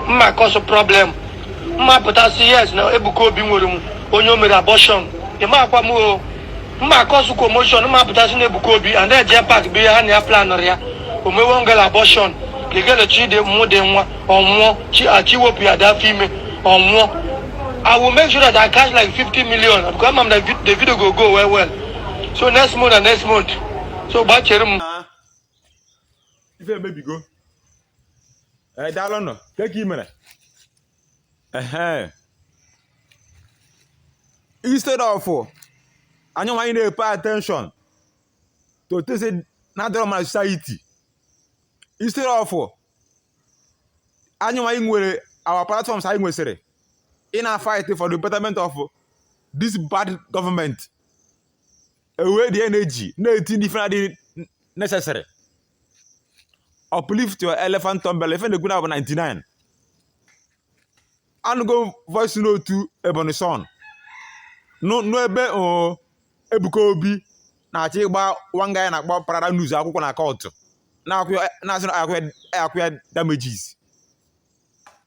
mma cause problem mma pụta sị yes na Ebuka Obi nwere m onye o mere abortion ịma akwa m o mma cause commotion mma pụta sị na Ebuka Obi a na-eje park bụ ihe ha na ya planụrụ ya o mewe ngala abortion legele chi dị mụ dị nwa ọnwụọ chi achị wepụ ya dị afọ ime ọnwụọ I will make sure that I cash like 50 million because I'm the, vid- the video go go well well. So next month and next month. So bachere m. ife emebigo ee daalụ nọ ka ka ị mere ehe instead of anyị nwa ị pay attention to things na-adịrọ mma society instead of anyị nwa iwere our platforms anyị nwesịrị ị na-fight for the betterment of this bad government ewee the energy na-etinye n'ife na-adịghị necessary uplift your elephant umbrella ife na-ekwu now bụ 99 anụgo voice note Ebonyi Son nụ ebe o Ebuka Obi na-achọ ịgba one guy a na-akpọ Pararan news akwụkwọ na court na-asị na a kwụọ ya damages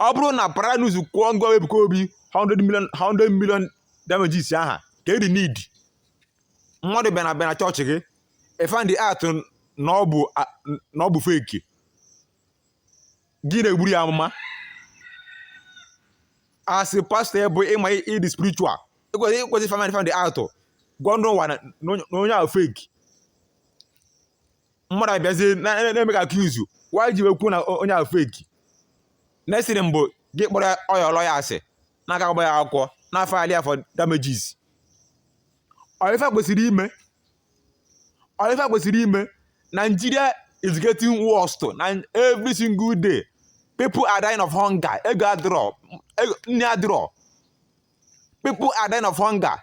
ọ bụrụ na Paranews kwụọ ngọ Ebuka Obi 100 million 100 million damages aha kee the need mmadụ bịa na bịa na chọọchị gị ị find out na ọ bụ a- na ọ bụ fake gị na-egburu ya amụma as a pastor ya bụ ị ma ị dị spiritual i kwesị i kwesị find find out gwa ndị ụwa na na onye ahụ fake mmadụ abịazie na-emake a case why o ji wee kwuo na onye ahụ fake next thing bụ gị kpọrọ your lawyer asị na-aga agba ya akwụkwọ na-afile for damages ọ ife kwesịrị ime ọ ife kwesịrị ime Nigeria is getting worse na every single day people are dying of hunger ego adịrọ nni adịrọ people are dying of hunger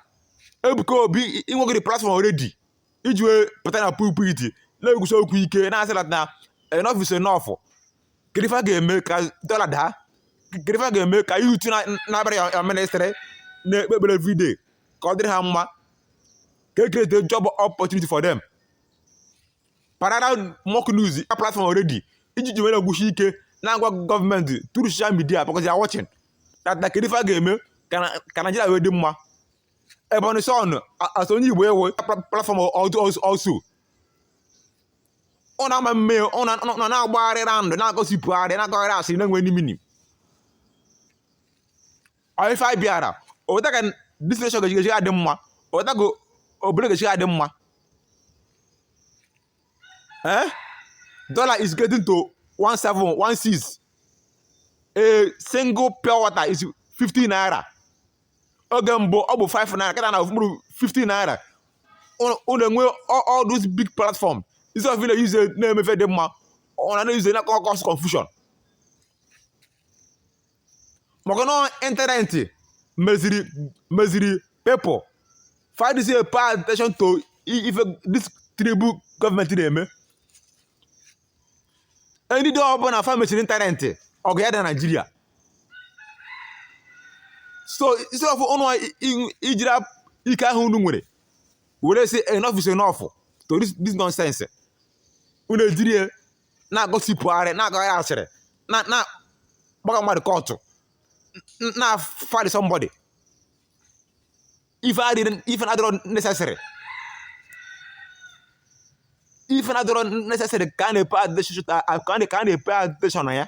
Ebuka Obi i nwere the platform already iji wee pụta na pulpit na-ekwusi okwu ike na-asị na na enough is enough kedu ife a ga-eme ka dollar daa kedu ife a ga-eme ka youth na-abịara your- your ministry na-ekpe ekpere everyday ka ọ dịrị ha mma ka e create a job opportunity for them Pararan Mock News a platform already iji ji were kwusi ike na-agwa gọọmenti through social media because they are watching that na kedu ife a ga-eme ka na- ka Nigeria wee dị mma Ebonyi Son as onye Igbo nwe platform also unu ama eme unu na-agbagharị round na-agossipgharị na-akọgharị asịrị na-enweghị any meaning ọ ife anyị bịara ọ bụ etu a ka this nation ga-eji adị mma ọ bụ etu a ka obodo ga-eji adị mma eh dollar is getting to 1716 a single pure water is 50 naira oge mbụ ọ bụ 5 naira kịta na mkpụrụ 50 naira unu enwe all those big platform instead of unu use ya na-eme ife dị mma unu na-use ya na cause confusion maka na ịntanetị meziri meziri people fa adịzị pay attention to i- ife this terrible gọọmenti na-eme any day ọbụla fa mechiri ịntanetị ọgụ adaa na naijiria so instead of unu ijiri ap- ike ahụ unu nwere were sị enough is enough to this, this nonsense unu ejiri ya na-agossipgharị na-agbagharị asịrị na na gbaga mmadụ court na fight somebody ife adịrị ife adịrọ necessary ife adịrọ necessary ka a na-epe attention ka a na- ka a na-epe attention na ya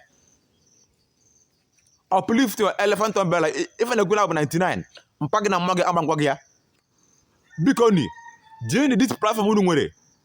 uplift your elephant umbrella I- ife na-ekwu na bụ 99 mpa gị na mma gị ama agwa gị ya bikonụ jirinụ this platform unu nwere